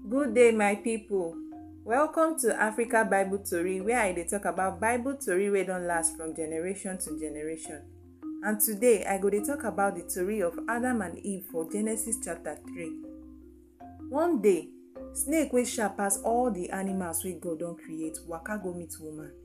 Good day, my people. Welcome to Africa Bible Tori, where I dey talk about Bible Tori wey don last from generation to generation. And today, I go dey talk about the tori of Adam and Eve for Genesis chapter 3. One day, snake wey sharp pass all the animals wey God don create waka go meet woman.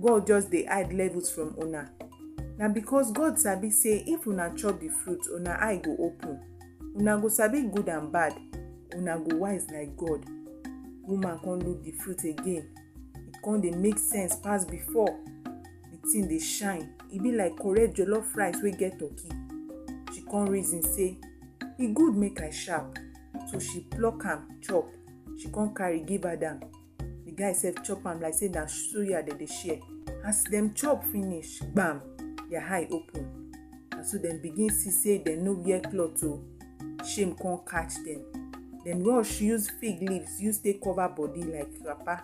God just dey hide levels from una. Na because God sabi say if una chop the fruit, una eye go open. Una go sabi good and bad. Una go wise like God. Woman come look the fruit again. E come dey make sense pass before. The thing dey shine. E be like correct jollof rice wey get turkey. She come reason say, e good make I sharp. So she pluck am chop. She come carry give Adam. the guy sef chop am like say na suya dem dey share as dem chop finish gbam their eye open na so dem begin see say dem no wear cloth o shame come catch dem dem rush use fig leaves use take cover body like wrapper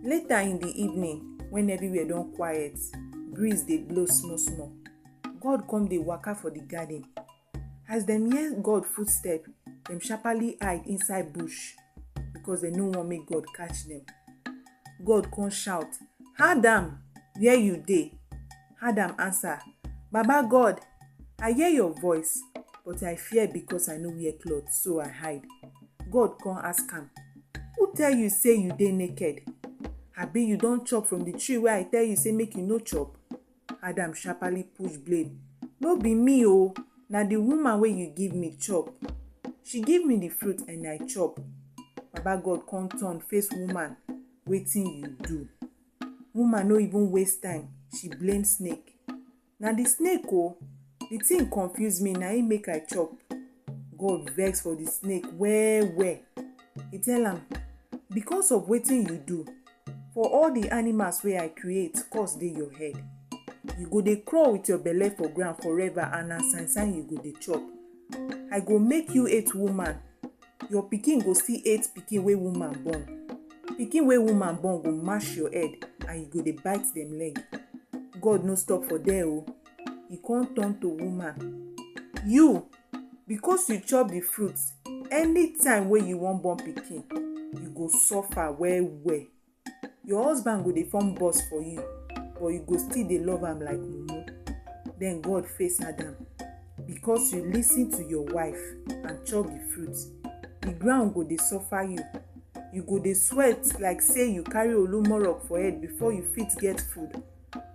later in the evening when everywhere don quiet breeze dey blow small small god come dey waka for the garden As dem hear God footstep, dem sharply hide inside bush because dem no wan make God catch dem. God come shout, Adam, where you dey? Adam answer, Baba God, I hear your voice, but I fear because I no wear cloth, so I hide. God come ask am, Who tell you say you dey naked? Abi you don chop from the tree wey I tell you say make you no chop? Adam sharperly push blade. No be me o, na the woman wey you give me chop. She give me the fruit and I chop. Baba God come turn face woman, wetin you do? Woman no even waste time, she blame snake. Na the snake o, the thing confuse me na im make I chop. god vex for the snake well well He tell am because of wetin you do for all the animals wey i create curse dey your head you go dey crawl with your belle for ground forever and na sign sign you go dey chop i go make you hate woman your pikin go still hate pikin wey woman born pikin wey woman born go mash your head and you go dey bite dem leg god no stop for there o. Oh. e come turn to woman you because you chop the fruit anytime wey you wan born pikin you go suffer well well your husband go dey form boss for you but you go still dey love am like mumu then god face adam because you lis ten to your wife and chop the fruit the ground go dey suffer you you go dey sweat like say you carry olumorok for head before you fit get food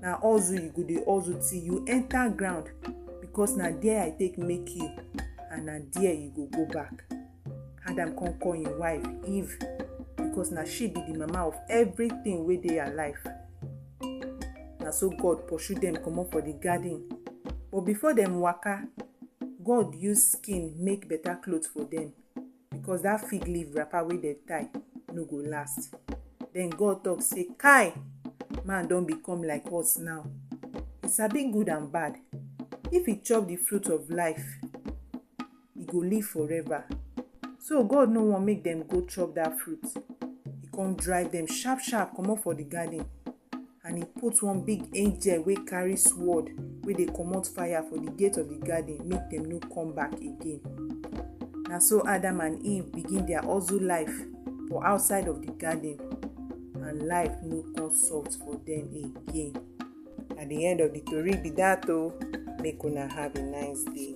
na hustle you go dey hustle till you enter ground because na there i take make you and na there you go go back adam come call him wife eve because na she be the mama of everything wey dey her life na so god pursue dem comot for the garden but before dem waka god use skin make better cloth for dem because that fig leaf wrapper wey dem tie no go last then god talk say kai man don become like us now e sabi good and bad if e chop the fruit of life e go live forever so god no wan make dem go chop that fruit e come drive dem sharp sharp comot for the garden And he put one big angel wey carry sword wey dey comot fire for the gate of the garden make dem no come back again. Na so Adam and Eve begin their hustle life for outside of the garden and life no come soft for them again. Na the end of the tori be that o. Oh. Make una have a nice day.